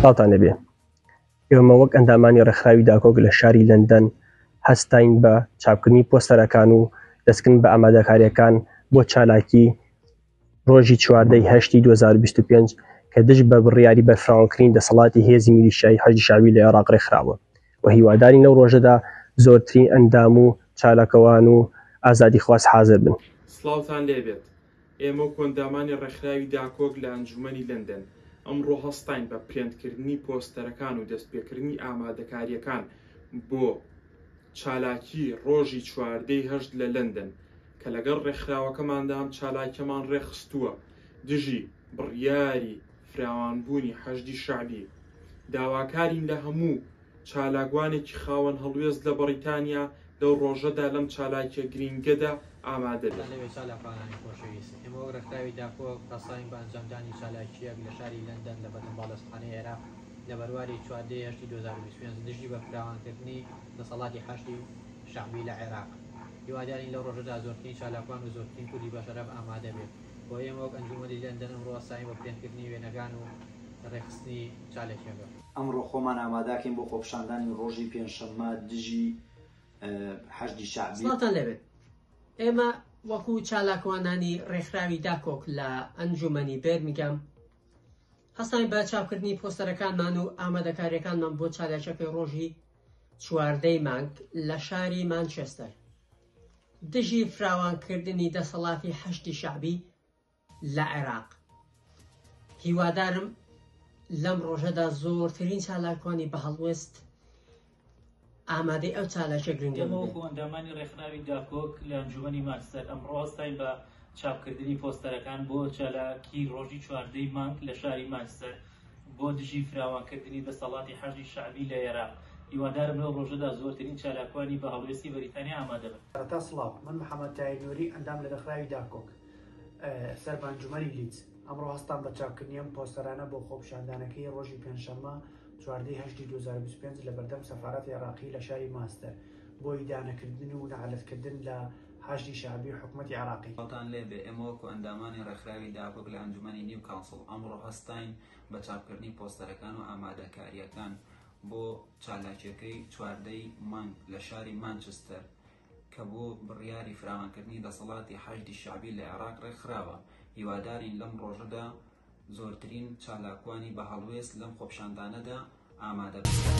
ساڵتان لەبێ ئێمە وەک ئەندامانی ڕێکخراوی داکۆک لە شاری لەندەن هەستین بە چاپکردنی پۆستەرەکان و دەستکن بە ئامادەکاریەکان بۆ چالاکی ڕۆژی چواردەی هەشتی 2025 کە دژ بە بڕیاری بەرفراوانکرین دەسەڵاتی هێزی میلیشایی حەجی شاوی لە عێراق ڕێکخراوە و هیوادارین لەو ڕۆژەدا زۆرترین ئەندام و چالاکوان و ئازادیخواز حازر بن. سڵاوتان لێبێت، ئێمە وەکو ئەندامانی ڕێکخراوی داکۆک لە ئەنجومەنی لەندەن، ئەمڕۆ هەستاین بە پرێنتکردنی پۆستەرەکان و دەستپێکردنی ئامادەکارییەکان بۆ چالاکی ڕۆژی چواردە ی هەشت لە لەندەن، کە لەگەڵ ڕێکخراوەکەماندا ئەم چالاکیەمان ڕێکخستووە دژی بڕیاری. فراوانبوونی حەشدی شەعبی، داواکارین لە هەموو چالاکوانێکی خاوەن هەڵوێست لە بەڕیتانیا لەو ڕۆژەدا لەم چالاکیە گرینگەدا ئامادە بێت. هەرلەوێ چالاکوانانی خۆشەویست، ئێمە وەک ڕێکخراوی داکۆک هەستاوین بە ئەنجامدانی چالاکییەک لە شاری لەندەن لە بەردەم باڵێۆزخانەی عێراق لە بەرواری چواردە ی هەشتی دوو هەزار و بیست و پێنج دژی بە فراوانکردنی دەسەڵاتی حەشدی شەعبی لە عێراق. هیوادارین لەو ڕۆژەدا زۆرترین چالاکوان و زۆرترین کوردی بەشەرەف ئامادە بێت. بۆ ئێمە وەک ئەنجوومەنی لەندەن ئەمڕۆ وەستاین بۆ پلێنکردنی وێنەکان و ڕێکخستنی چاالکییەکە. ئەمڕۆ خۆمان ئاماداکەین بۆ خۆپیشاندانی ڕۆژی پێنجشەممە دژی حەشدی شەعبی. سڵاوتان لێبێت ئێمە وەکو چالاکوانانی ڕێکخراوی داکۆک لە ئەنجوومەنی بێرمگام هەستاین بە چاپکردنی پۆستەرەکانمان و ئامادەکاریەکانمان بۆ چالاکیەکەی ڕۆژی چواردەی مانگ لە شاری مانچێستەر دژی فراوانکردنی دەسەڵاتی حەشدی شەعبی لە عێراق هیوادارم لەم ڕۆژەدا زۆرترین چالاکوانی بە هەڵوێست ئامادەی ئەو چالاکە گرنگەوەکو ئەندامانی ڕێکخراوی داکۆک لە ئەنجومی مانچستەر ئەم ڕۆستای بە چاپکردنی پۆستەرەکان بۆ چالاکی ڕۆژی چواردەی مانگ لە شاری مانچستەر بۆ دژی فراوانکردنی دەسەڵاتی حەشدی شەعبی لە ئێراق. هیوادارم لەو ڕۆژەدا زۆرترین چالاکوانی بە هەڵوێستی بەریتانیا ئامادە بن. سەرەتا سڵاو، من محەمەد تایر نوری ئەندام لە ڕێکخراوی داکۆک سەر بە ئەنجومەنی لیدز ئەمڕۆ هەستام بە چاپکردنی ئەم پۆستەرانە بۆ خۆپیشاندانەکەی ڕۆژی پێنجشەممە چواردە ی هەشت ی دوو هەزار و بیست و پێنج لە بەردەم سەفارەتی عێراقی لە شاری مانستەر بۆ ئیدانەکردن و نەعلەتکردن لە حەشدی شەعبی و حکومەتی عێراقی. تان لێ بێ ئێمە وەکو ئەندامانی ڕێکخراوی داکۆک لە ئەنجومەنی نیو کاونسڵ ئەمڕۆ هەستاین بە چاپکردنی پۆستەرەکان و ئامادەکارییەکان بۆ چالاکیەکەی چواردە ی مانگ لە شاری مانچستەر کە بۆ بڕیاری فراوانکردنی دەسەڵاتی حەشدی شەعبی لە عێراق ڕێکخراوە هیوادارین لەم ڕۆژەدا زۆرترین چالاکوانی بە هەڵوێست لەم خۆپیشاندانەدا ئامادە بکەن.